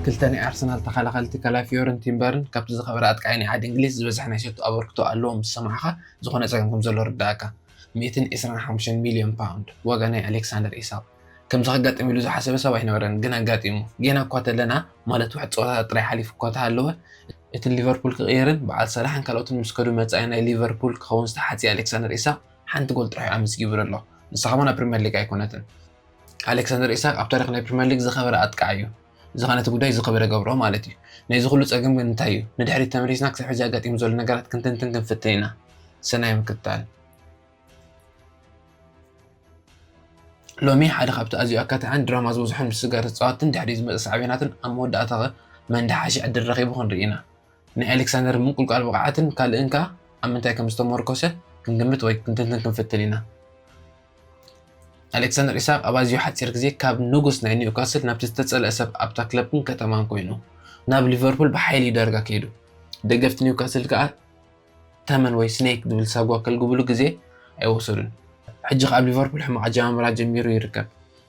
ክልተ ናይ ኣርሰናል ተኸላኸልቲ ካላፊዮርን ቲምበርን ካብቲ ዝኸበረ ኣጥቃዒ ናይ ዓዲ እንግሊዝ ዝበዝሐ ናይ ሸቶ ኣበርክቶ ኣለዎም ምስ ሰማዕካ ዝኾነ ጸገም ከም ዘሎ ይርደኣካ። ሚእትን ዕስራን ሓሙሽተን ሚልዮን ፓውንድ ዋጋ ናይ ኣሌክሳንደር ኢሳቕ። ከምዚ ከጋጥም ኢሉ ዝሓሰበ ሰብ ኣይነበረን ግን ኣጋጢሙ። ጌና እኳ ተለና ማለት ውሕድ ጸወታታት ጥራይ ሓሊፉ እኳ ተሃለወ፣ እቲ ንሊቨርፑል ክቕይርን በዓል ሳላሕን ካልኦትን ምስ ከዱ መጻኢ ናይ ሊቨርፑል ክኸውን ዝተሓጽየ ኣሌክሳንደር ኢሳቕ ሓንቲ ጎል ጥራሕ'ዩ ኣመዝጊቡሉ ኣሎ ንሳ ከማን ኣብ ፕሪመር ሊግ ኣይኮነትን። ኣሌክሳንደር ኢሳቅ ኣብ ታሪኽ ናይ ፕሪመር ሊግ ዝኸበረ ኣጥቃዕ እዩ። ዝኾነ እቲ ጉዳይ ዝኸበረ ገብሮ ማለት እዩ። ናይዚ ኩሉ ጸገም ግን እንታይ እዩ? ንድሕሪት ተመሊስና ክሳብ ሕጂ ኣጋጢሙ ዘሎ ነገራት ክንትንትን ክንፍትን ኢና። ሰናይ ምክትታል። ሎሚ ሓደ ካብቲ ኣዝዩ ኣካታዕን ድራማ ዝበዝሖን ምስጋር ተጻወትን ድሕሪ ዝመጸ ሳዕቤናትን ኣብ መወዳእታ ኸ መን ድሓሸ ዕድል ረኺቡ ክንርኢ ኢና። ናይ ኣሌክሳንደር ምንቁልቋል ብቕዓትን ካልእን ከኣ ኣብ ምንታይ ከም ዝተሞርኮሰ ክንግምት ወይ ክንትንትን ክንፍትን ኢና። ኣሌክሳንደር ኢሳቕ ኣብ ኣዝዩ ሓጺር ግዜ ካብ ንጉስ ናይ ኒውካስል ናብቲ ዝተጸልአ ሰብ ኣብታ ክለብን ከተማን ኮይኑ ናብ ሊቨርፑል ብሓይሊ ዳርጋ ከይዱ ደገፍቲ ኒውካስል ከኣ ተመን ወይ ስኔክ ዝብል ሳጓ ከልግብሉ ግዜ ኣይወሰዱን ሕጂ ከኣ ኣብ ሊቨርፑል ሕማቕ ኣጀማምራ ጀሚሩ ይርከብ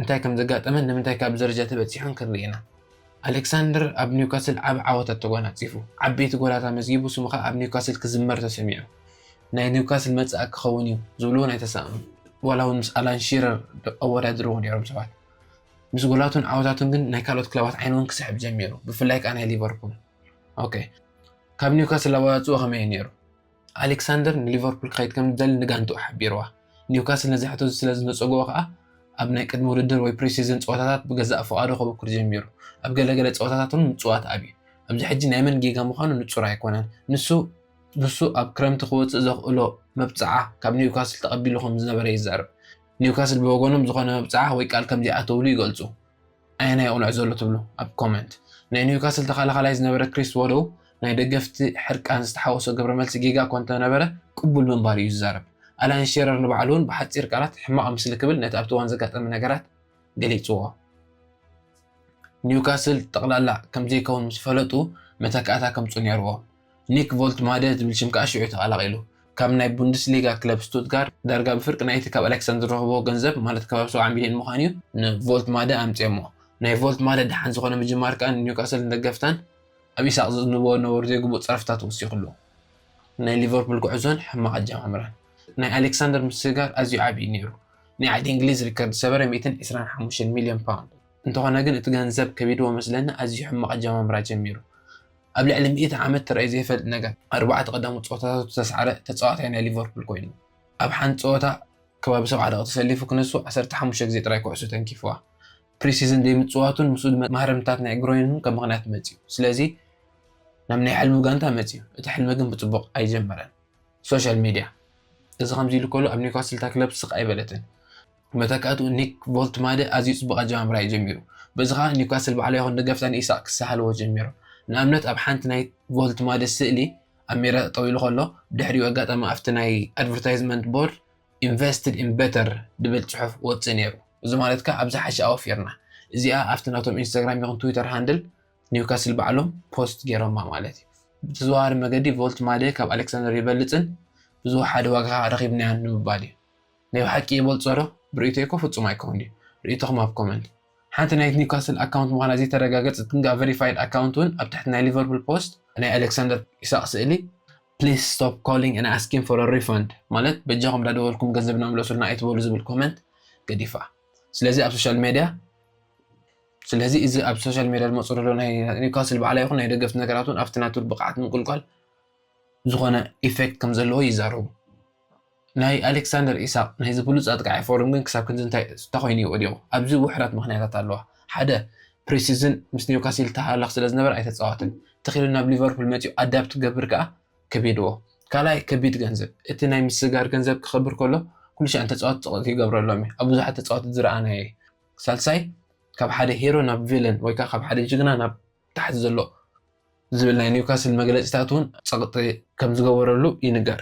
እንታይ ከም ዘጋጠመን ንምንታይ ካብዚ ደረጃ እቲ በጺሑን ክንርኢ ኢና። ኣሌክሳንደር ኣብ ኒውካስል ዓቢ ዓወታት ተጓናጺፉ፣ ዓበይቲ ጎላት ኣመዝጊቡ ስሙ ከኣ ኣብ ኒውካስል ክዝመር ተሰሚዑ። ናይ ኒውካስል መጻኢ ክኸውን እዩ ዝብሉ እውን ኣይተሳእኑን፣ ዋላ እውን ምስ ኣላን ሺረር ኣወዳድርዎ ነይሮም ሰባት። ምስ ጎላቱን ዓወታቱን ግን ናይ ካልኦት ክለባት ዓይኒ እውን ክስሕብ ጀሚሩ፣ ብፍላይ ከኣ ናይ ሊቨርፑል። ኦኬ፣ ካብ ኒውካስል ኣወጻጽእኡ ከመይ እዩ ነይሩ? ኣሌክሳንደር ንሊቨርፑል ክኸይድ ከም ዝደሊ ንጋንትኡ ሓቢርዋ። ኒውካስል ነዚ ሕቶ እዚ ስለ ዝነጸግዎ ከኣ ኣብ ናይ ቅድሚ ውድድር ወይ ፕሪ-ሲዝን ጸወታታት ብገዛእ ፍቓዱ ከበኵር ጀሚሩ። ኣብ ገለ ገለ ጸወታታት እውን ምጽዋት ኣብዩ። ኣብዚ ሕጂ ናይ መን ጌጋ ምዃኑ ንጹር ኣይኰነን። ንሱ ንሱ ኣብ ክረምቲ ክወጽእ ዘኽእሎ መብጽዓ ካብ ኒውካስል ተቐቢሉ ከም ዝነበረ ይዛረብ። ኒውካስል ብወገኖም ዝዀነ መብጽዓ ወይ ቃል ከም ዘይኣተውሉ ይገልጹ። ኣየናይ ይቕንዖ ዘሎ ትብሉ ኣብ ኮመንት። ናይ ኒውካስል ተኸላኻላይ ዝነበረ ክሪስ ዎዶው ናይ ደገፍቲ ሕርቃን ዝተሓወሶ ግብረ መልሲ ጌጋ እኳ እንተነበረ ቅቡል ምንባሩ እዩ ዝዛረብ። ኣላን ሼረር ንባዕሉ እውን ብሓጺር ቃላት ሕማቕ ምስሊ ክብል ነቲ ኣብቲ እዋን ዘጋጠመ ነገራት ገሊጽዎ። ኒውካስል ጠቕላላ ከምዘይከውን ምስ ፈለጡ መተካእታ ከምጽኡ ነይርዎም። ኒክ ቮልትማደ ዝብል ሽም ከኣ ሽዑ ተቐላቒሉ። ካብ ናይ ቡንደስሊጋ ክለብ ስቱትጋርት ዳርጋ ብፍርቂ ናይቲ ካብ ኣሌክሳንድ ዝረኸቦ ገንዘብ ማለት ከባቢ ሰብዓ ሚልዮን ምዃኑ'ዩ ንቮልትማደ ኣምጺኦሞ። ናይ ቮልትማደ ደሓን ዝኾነ ምጅማር ከኣ ንኒውካስልን ደገፍታን ኣብ ኢሳቕ ዘዝንብዎ ነበሩ ዘይግቡእ ጸርፍታት ወሲኹሉ። ናይ ሊቨርፑል ጉዕዞን ሕማቕ ኣጀማምራን ናይ ኣሌክሳንደር ምስግጋር ኣዝዩ ዓቢ'ዩ ነይሩ። ናይ ዓዲ እንግሊዝ ሪከርድ ዝሰበረ ሚእትን ዕስራን ሓሙሽተን ሚልዮን ፓውንድ። እንተኾነ ግን እቲ ገንዘብ ከቢድዎ መስለኒ ኣዝዩ ሕማቕ ኣጀማምራ ጀሚሩ። ኣብ ልዕሊ ሚእቲ ዓመት ተራእዩ ዘይፈልጥ ነገር፣ ኣርባዕተ ቀዳሞት ጸወታታቱ ዝተስዓረ ተጻዋታይ ናይ ሊቨርፑል ኮይኑ፣ ኣብ ሓንቲ ጸወታ ከባቢ ሰብዓ ደቒቕ ተሰሊፉ ክነሱ ዓሰርተ ሓሙሽተ ግዜ ጥራይ ኩዕሶ ተንኪፉዋ። ፕሪ-ሲዝን ዘይምጽዋቱን ምስኡ ድማ ማህረምትታት ናይ ግሮይን ከም ምኽንያት መጺኡ። ስለዚ ናብ ናይ ሕልሙ ጋንታ መጺኡ። እቲ ሕልሚ ግን ብጽቡቕ ኣይጀመረን። ሶሻል ሚድያ እዚ ከምዚ ኢሉ ከሎ ኣብ ኒውካስል እታ ክለብ ስቕ ኣይበለትን። መተካእትኡ ኒክ ቮልትማደ ኣዝዩ ጽቡቕ ኣጀማምራ'ዩ ጀሚሩ። በዚ ከኣ ኒውካስል ባዕላ ይኹን ደገፍታ ንኢሳቕ ክሳሃልዎ ጀሚሮም። ንኣብነት ኣብ ሓንቲ ናይ ቮልትማደ ስእሊ ኣብ ሜዳ ጠጠው ኢሉ ከሎ ብድሕሪኡ ኣጋጣሚ ኣብቲ ናይ ኣድቨርታይዝመንት ቦርድ ኢንቨስትድ ኢን በተር ድብል ጽሑፍ ወጽእ ነይሩ። እዚ ማለት ከኣ ኣብ ዝሓሸ ኣወፊርና። እዚኣ ኣብቲ ናቶም ኢንስታግራም ይኹን ትዊተር ሃንድል ኒውካስል ባዕሎም ፖስት ገይሮማ ማለት'ዩ። ብተዘዋዋሪ መገዲ ቮልትማደ ካብ ኣሌክሳንደር ይበልጽን ብዝወሓደ ዋጋ ከኣ ረኺብናዮን ንምባል'ዩ። ናይ ብሓቂ ይበልጾ ዶ? ብርእይቶይ እኮ ፍጹም ኣይከውን ድዩ? ርእይቶኹም ኣብ ኮመንት። ሓንቲ ናይት ኒውካስል ኣካውንት ምዃና ዘይተረጋገጸት ግንከኣ ቨሪፋይድ ኣካውንት ውን ኣብ ትሕቲ ናይ ሊቨርፑል ፖስት ናይ ኣለክሳንደር ኢሳቅ ስእሊ please stop calling and asking for a refund ማለት በጃኹም ዳደወልኩም ገንዘብና ምለሱልና ኣይትበሉ ዝብል ኮመንት ገዲፋ ስለዚ ኣብ ሶሻል ሜድያ ስለዚ እዚ ኣብ ሶሻል ሜድያ ዝመጹ ዘሎ ናይ ኒውካስል በዓላ ይኹን ናይ ደገፍቲ ነገራት ውን ኣብቲ ናቱ ብቅዓት ምንቁልቋል ዝኾነ ኢፌክት ከምዘለዎ ይዛረቡ። ናይ ኣሌክሳንደር ኢሳቕ ናይዚ ብሉጽ ኣጥቃዓይ ፎርም ግን ክሳብ ክንዲ እንታይ እንተኾይኑ እዩ ወዲቑ? ኣብዚ ውሑዳት ምኽንያታት ኣለዋ። ሓደ ፕሪሲዝን ምስ ኒውካሲል ተሃላኽ ስለዝነበረ ኣይተጻወትን። ተኺሉ ናብ ሊቨርፑል መጺኡ ኣዳፕት ክገብር ከኣ ከቢድዎ። ካልኣይ ከቢድ ገንዘብ። እቲ ናይ ምስግጋር ገንዘብ ክኸብር ከሎ ኩሉሻዕ ንተጻወቲ ጽቕጢ ክገብረሎም እዩ። ኣብ ብዙሓት ተጻወቲ ዝረኣናዮ እዩ። ሳልሳይ ካብ ሓደ ሂሮ ናብ ቪለን ወይከኣ ካብ ሓደ ጅግና ናብ ታሕቲ ዘሎ ዝብል ናይ ኒውካስል መግለጺታት እውን ጸቕጢ ከም ዝገበረሉ ይንገር።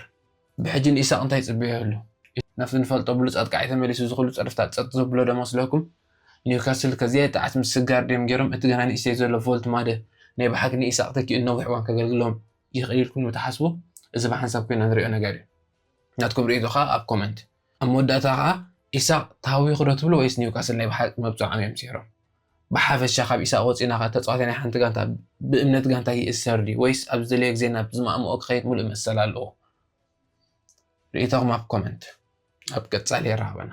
ብሕጂ ንኢሳቕ እንታይ ይጽበዮ ይህሉ? ናብቲ ንፈልጦ ብሉጽ ኣጥቃዓይ ተመሊሱ ዝኹሉ ጸርፍታት ጸጥ ዘብሎ ዶ መስለኩም? ኒውካስል ከዚኣ ጥዓት ምስ ስጋርድየም ጌሮም እቲ ገና ንእሽተይ ዘሎ ቮልት ማደ ናይ ብሓቂ ንኢሳቕ ተኪኡ ንነዊሕ እዋን ከገልግሎም ይኽእል ኢልኩም ዶ ትሓስቡ? እዚ ብሓንሳብ ኮይና ንሪኦ ነገር እዩ። ናትኩም ርእይቶ ከኣ ኣብ ኮመንት። ኣብ መወዳእታ ከኣ ኢሳቕ ተሃዊኹዶ ትብሉ ወይስ ኒውካስል ናይ ብሓቂ መብጽዖም እዮም ሰይሮም? ብሓፈሻ ካብ ኢሳቕ ወጺእና ከ ተጻዋታይ ናይ ሓንቲ ጋንታ ብእምነት ጋንታ ይእሰር ድዩ ወይስ ኣብ ዝደለዮ ግዜ ናብ ዝማእምኦ ክኸይድ ምሉእ መሰል ኣለዎ? ርእይቶኹም ኣብ ኮመንት። ኣብ ቀጻሊ የራኽበና።